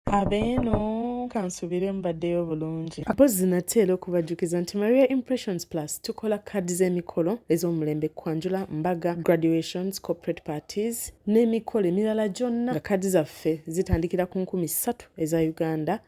abeeno kansubire mbaddeyo bulungi apozi nate era okubajjukiza nti maria impressions plus tukola kaadi z'emikolo ez'omulembe kwanjula mbaga graduations corporate parties n'emikolo emirala gyonna nga kaadi zaffe zitandikira ku nkumi ssatu eza uganda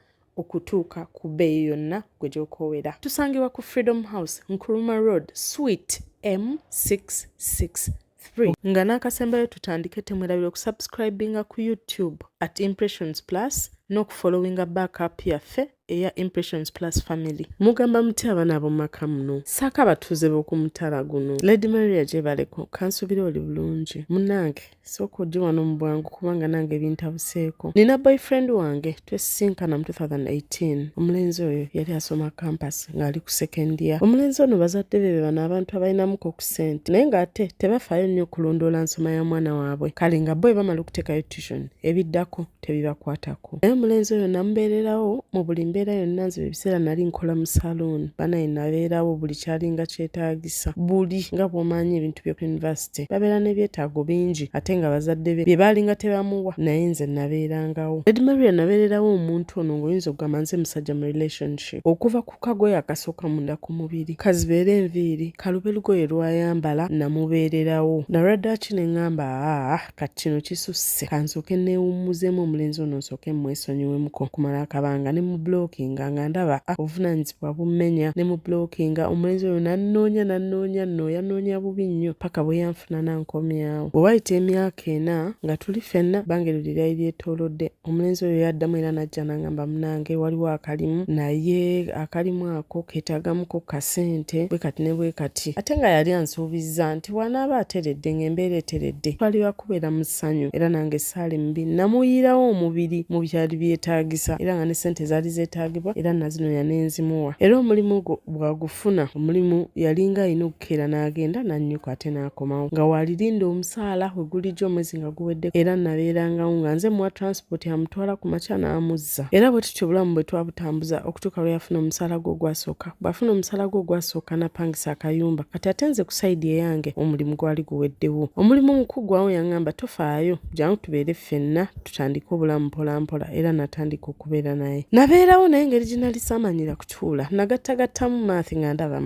okutuuka ku bbeeyi yonna gwe gy'okoowera tusangibwa ku freedom house nkuruma road sweet m66 3 nga n'akasembayo tutandike temwerabira okusubscribinga ku youtube at impressions plus n'okufollowinga backup yaffe eya impressions plus family mugamba muti abaana ab'omumaka muno saako abatuuze b'okumutala guno lady maria gyebaleko kansubira oli bulungi munange sooka ojje wano mu bwangu kubanga nange ebintabuseeko nina boyfriend wange twesisinkana mu 2018 omulenzi oyo yali asoma kampasi ng'ali ku sekendiya omulenzi ono bazadde be bebano abantu abalinamuko ku sente naye ng'ate tebafaayo nnyo okulondoola nsoma ya mwana waabwe kale nga bo ebamala okuteekayo tution ebiddako tebibakwatako naye omulenzi oyo namubeererawo mu buli mbeera yonna nziba ebiseera nali nkola mu saluuni banaye nabeerawo buli kyalinga kyetaagisa buli nga bw'omaanyi ebintu by'oku yunivasite yunivasite babeera n'ebyetaago bingi ate nga bazadde be bye baalinga tebamuwa naye nze nabeerangawo lady maria nabeererawo omuntu ono ng'oyinza okugamba nze musajja mu relationship okuva ku kagoye akasooka munda ku mubiri kazibeera enviiri kalube lugoye lwayambala namubeererawo nalwaddaaki ne ŋŋamba aa kati kino kisusse kansooke neewummuzeemu omulenzi ono nsooke mmwesonyiwemuko okumala akabanga ne mu blockinga nga ndaba ah, obuvunaanyizibwa wabummenya ne mu blockinga omulenzi oyo nannoonya nannoonya nno yanoonya bubi nnyo paka bwe yanfuna nankomyawo bwe wayita emyaka ena nga tuli fenna bange luli lyali lyetoolodde omulenzi oyo yaddamu era najja nangamba munange waliwo akalimu naye akalimu ako keetaagamuko kasente bwe kati ne bwe kati ate nga yali ansuubizza nti wanaaba ateredde ng'embeera eteredde twali ba kubeera mu ssanyu era nange saali mubi namuyiirawo omubiri mu byali byetaagisa era nga ne ssente zaali zeetaagibwa era nazino yanenzimuwa era omulimu gwo bwagufuna omulimu yalinga alina okukeera n'agenda n'annyuka ate n'akomawo nga waalirinda omusaala we gulijjo omwezi nga guwedde era nabeerangawo nga nze muwa transport amutwala ku makya n'amuzza era bwe tutyo obulamu bwe twabutambuza okutuuka lwe yafuna omusaala gwe ogwasooka bw'afuna omusala gwe ogwasooka napangisa akayumba kati ate nze kusaidi eyange omulimu gwali guweddewo omulimu omukugwawo yaŋŋamba tofaayo jangu tubeere ffenna tutandike obulamu mpolampola era natandika okubeera naye nabeerawo naye ngeri gye nali saamanyira kutuula nagattagattamu maathi nga ndaba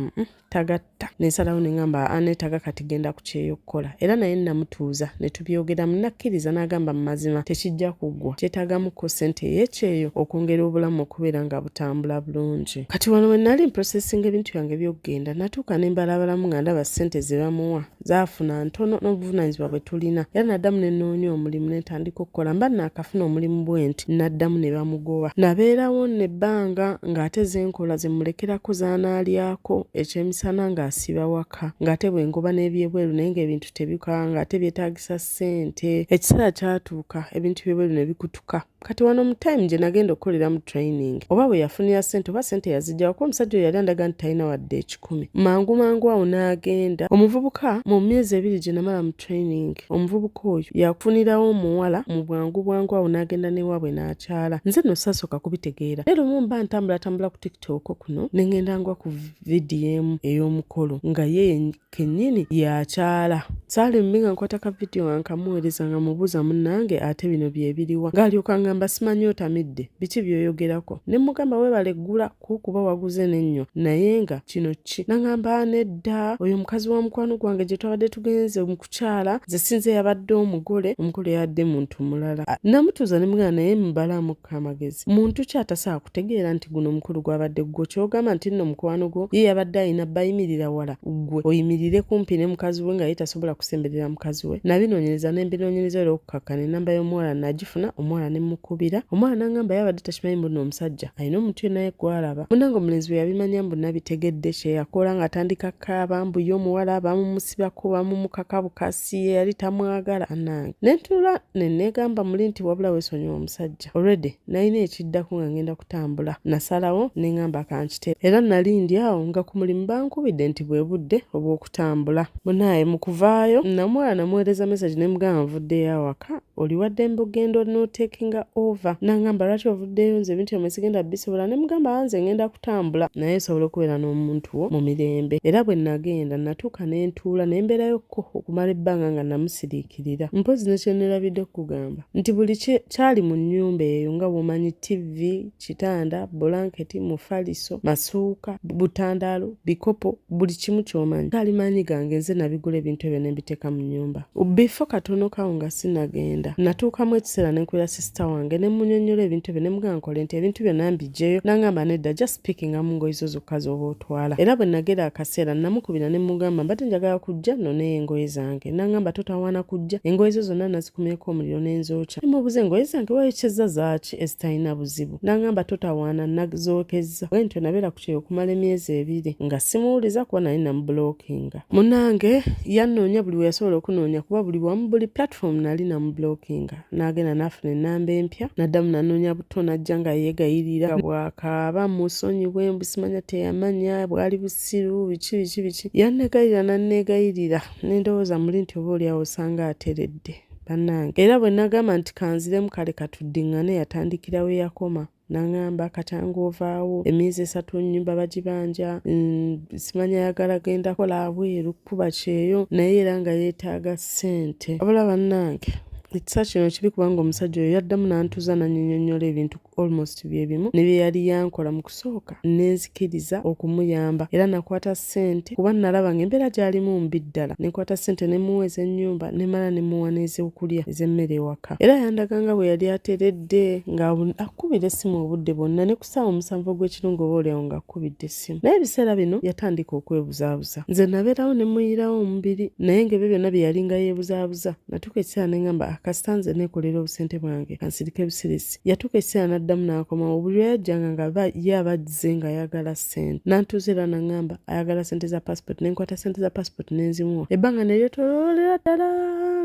tagatta nensalawo neŋŋamba aneetaga kati genda ku kyeyo kukola era naye namutuuza ne tubyogeramu nakkiriza n'agamba mu mazima tekijja kuggwa kyetaagamuko ssente ey'ekyeyo okwongera obulamu okubeera nga butambula bulungi kati wano we nali mprosesinga ebintu byange by'okugenda natuuka ne mbalabalamu nga ndaba ssente ze bamuwa zaafuna ntono n'obuvunaanyizibwa bwe tulina era naddamu ne nnoonya omulimu ne ntandika okukola mba naakafuna omulimu bwe nti naddamu ne bamugoba nabeerawo ne bbanga ng'ate ze nkola ze mulekerako z'anaalyako ekyemisana ng'asiba waka byokka ng'ate bwe ngoba n'ebyebweru naye ng'ebintu tebikola ng'ate byetaagisa ssente ekiseera kyatuuka ebintu byebweru ne bikutuka kati wano mu time gye nagenda okukolera mu training oba bwe yafunira ssente oba ssente yazijjawo kuba omusajja oyo yali andaga nti talina wadde ekikumi mangu mangu awo n'agenda omuvubuka mu myezi ebiri gye namala mu training omuvubuka oyo yakufunirawo omuwala mu bwangu bwangu awo n'agenda n'ewaabwe n'akyala nze no sasooka kubitegeera era omu mba ntambulatambula ku tooko kuno ne ngenda ngwa ku vidiyo emu ey'omukolo nga ye kennyini yakyala saalimbi nga nkwata ka vidiyo nga nkamuweereza nga mubuuza munnange ate bino bye biriwa ng'alyoka ngamba simanyi otamidde biki byoyogerako ne mugamba weebale ggula kukuba waguze n'ennyo naye nga kino ki nangamba nedda oyo mukazi wa mukwano gwange gye twabadde tugenze mu kukyala ze sinze yabadde omugole omugole yabadde muntu mulala namutuuza ne mugana naye mubalamu amagezi muntu ki atasaa kutegeera nti guno omukulu gwabadde ggwo kyogamba nti nno mukwano gwo ye yabadde alina bayimirira wala ggwe oyimirire kumpi ne mukazi we nga ye tasobola kusemberera mukazi we nabinoonyereza ne mbinoonyereza era okukakkana enamba y'omuwala nagifuna omuwala ne mukubira omwana nangamba yabadde takimanyi mbuno omusajja alina omuntu yena ye gwalaba munange omulenzi bwe yabimanya mbu nabitegedde kyeyakola ng'atandika kaaba mbu ye omuwala bamumusiba kuba mumukaka bukasi si ye yali tamwagala nange nentuula nenegamba muli nti wabula wesonyiwa omusajja olredi nalina ekiddako nga ngenda kutambula nasalawo nengamba akankite era nali ndi awo nga ku mulimu bankubidde nti bwe budde obw'okutambula munaye mu kuvaayo namwala namuweereza message nemugamba nvuddeyo awaka oliwaddembe ogenda notakinga over nangamba lwaki ovuddeyo nze ebintu yamwe sigenda bisobola ne mugamba anze ah, ngenda kutambula naye nsobola okubeera n'omuntu wo mu mirembe era bwe nagenda natuuka ne ntuula ne mbeerayokko okumala ebbanga nga namusiriikirira mpozi nekyenerabidde okukugamba nti buli kyali mu nnyumba eyo nga womanyi ttivi kitanda bulanketi mufaliso masuuka butandaalo bikopo buli kimu kyomanyi kali maanyi gange nze nabigula ebintu ebyo nembiteeka mu nyumba bifo katono kawo nga sinagenda natuukamu ekiseera nenkulira sisita wange nemunyonyola ebintu ebyo nemugaa nkole nti ebintu byona mbijeyo nangamba nedda just pikinga mu ngoyi zo zokka zoba otwala era bwe nagera akaseera namukubira nemugamba mbadde njagala kujja noneyo engoye zange nangamba totawaana kujja engoye zo zonna nazikumyeko omuliro nenzookya nemubuza engoye zange wayokyezza zaaki ki ezitalina buzibu nangamba totawaana nazookezza bwe ntyo nabeera ku kyeyo okumala emyezi ebiri nga simuwuliza kuba naye namubulokinga munange yanoonya buli we yasobola okunoonya kuba buli wamu buli platform nali namubulokinga n'agenda n'afuna ennamba empya naddamu nanoonya buto najja nga yeegayirira bwakaaba musonyiwe mbusimanya teyamanya bwali busiru biki biki biki yanneegayirira nanneegayirira nendowooza muli nti oba olyawo osanga ateredde bannange era bwe nagamba nti kanziremu kale katuddiŋŋane yatandikira we yakoma nangamba katanga ovaawo emyezi esatu nyumba bagibanja mm, simanya ayagala genda kola abweru kukuba kyeyo naye era nga yeetaaga ssente abula bannange ekisa kino kibi kubanga omusajja oyo yaddamu n'antuza nanyinyonnyola ebintu ku almost bye bimu ne bye yali yankola mu kusooka ne nzikiriza okumuyamba era nakwata ssente kuba nalaba nga embeera gyalimu mbi ddala ne nkwata ssente ne muwa ez'ennyumba ne mala ne muwa n'ez'okulya ez'emmere ewaka era yandaga nga bwe yali ateredde nga akubira essimu obudde bwonna ne ku ssaawa omusanvu ogw'ekirungo oba olyawo ng'akubidde ssimu naye ebiseera bino yatandika okwebuzaabuza nze nabeerawo ne muyirawo omubiri naye ng'ebyo byonna bye yalinga yeebuzaabuza natuuka ekiseera ne ngamba akasita ah, nze neekolera obusente bwange kansirika ebusirisi yatuuka ekiseera n'addamu n'akomawo buli lwe yajjanga nga ye aba azze ng'ayagala ssente nantuuza era nangamba ayagala ssente za pasipoti ne nkwata ssente za pasipoti ne nzimuwa ebbanga ne lyetoloolera ddala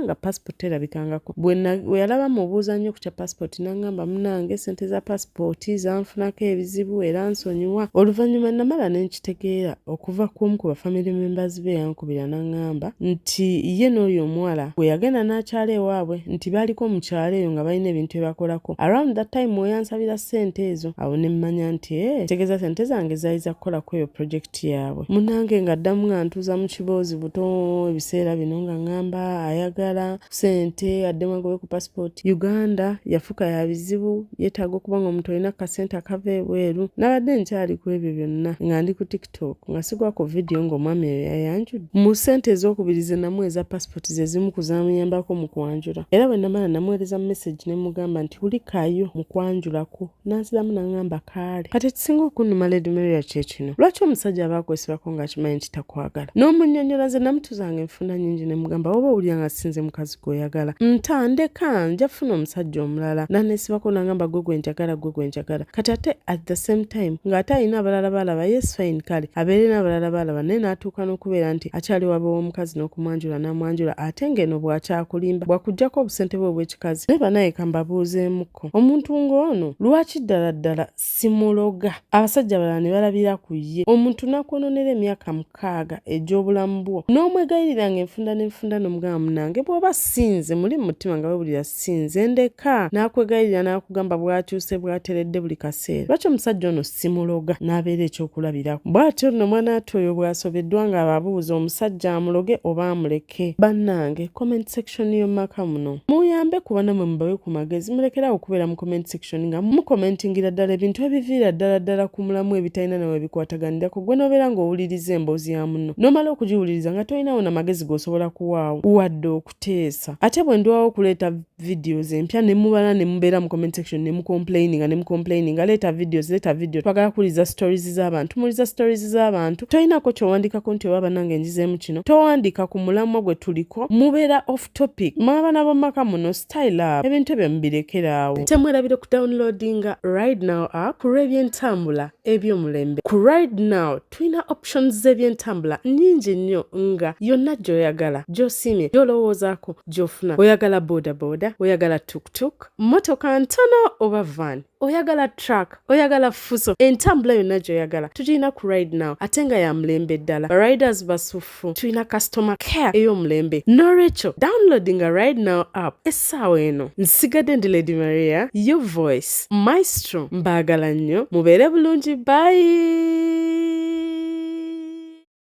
nga pasipoti terabikangako bwe yalaba mubuuza nnyo ku kya pasipoti nangamba munange ssente za pasipoti lipooti zanfunako ebizibu era nsonyiwa oluvannyuma namala ne nkitegeera okuva ku omu ku bafamire members be yankubira n'aŋŋamba nti ye n'oyo omuwala gwe yagenda n'akyala ewaabwe nti baaliko mu kyalo eyo nga balina ebintu bye bakolako around that time we yansabira ssente ezo awo ne mmanya nti e eh, tegeeza ssente zange zaali za kukola ku eyo purojekiti yaabwe munange ng'addamu nga ntuuza mu kiboozi buto ebiseera bino nga ŋŋamba ayagala sente addemu agobe ku passport uganda yafuka ya bizibu yetaaga okuba nga omuntu olina kasente akava ebweru nabadde nkyali ku ebyo byonna nga ndi ku tiktok nga sigwa ku vidiyo ng'omwami eyo yayanjudde mu sente ez'okubiri ze namu eza passport ze zimu ku zamuyambako mu kwanjula era bwe namala namuweereza message ne mugamba nti wulikayo mu kwanjulako nanziramu nangamba kaale kati ekisinga okunuma lady maria kyekino lwaki omusajja aba akwesibako ngaakimanyi nti takwagala n'omunyonyola nze namutuzanga enfunda nyingi nemugamba oba owulira nga sinze mukazi gweoyagala ntandeka nja funa omusajja omulala nanesibako nangamba gwe gwenjagala gwe gwenjagala kati ate at the same time ng'ate alina abalala baalaba yes fine kale abeere n'abalala baalaba naye n'atuuka n'okubeera nti akyali waba w'omukazi n'okumwanjula n'amwanjula ate ng'eno bwakyakulimba bwakugjako obusente bwe obw'ekikazi naye banaye kambabuuzeemu Kko. Omuntu ng'ono lwaki ddala ddala simuloga? Abasajja abalala ne balabira ku ye. Omuntu n'akwonoonera emyaka mukaaga egy'obulamu bwo n'omwegayirira ng'enfunda n'enfunda n'omugamba munange bw'oba si nze muli mu mutima nga wewulira si nze ndeka n'akwegayirira n'akugamba bw'akyuse bw'ateredde buli kaseera lwaki omusajja ono simuloga n'abeera ekyokulabirako bw'atyo nno mwanaatu oyo bw'asobeddwa ng'ababuuza omusajja amuloge oba amuleke kye bannange comment section yomumaka muno muyambe kuba namwe mubawe ku magezi mulekerawo okubeera mu comment section nga mukomentingira ddala ebintu ebiviira ddala ddala ku mulamu ebitalina nawe bikwataganirako gwe nobeera ng'owuliriza emboozi ya munno nomala okugiwuliriza nga tolinawo na magezi gosobola kuwaawo wadde okuteesa ate bwe ndwawo okuleeta videos empya ne mubala ne mubeera mu comment section ne mucomplaininga ne mucomplaininga leeta videos leeta video twagala kuwuliza stories z'abantu muwuliza stories z'abantu tolinako kyowandiikako nti oba banange njizeemu kino towandiika ku mulamwa gwe tuliko mubeera off topic mwe abaana b'omumaka muno style up ebintu ebyo mubirekeraawo temwerabire ku downloadinga right now app ku lw'ebyentambula ebyomulembe ku right now tulina options z'ebyentambula nnyingi nnyo nga yonna gy'oyagala gy'osiimye gy'olowoozaako gy'ofuna oyagala bodaboda oyagala tuktuk mmotoka ntono oba van oyagala truck oyagala fuso entambula yonna gy'oyagala tugirina ku ride now ate nga ya mulembe ddala bariders basufu batuufu tulina customer care ey'omulembe n'olwekyo downloading a right now app essaawa eno nsigadde ndi lady maria your voice maestro mbaagala nnyo mubeere bulungi bayi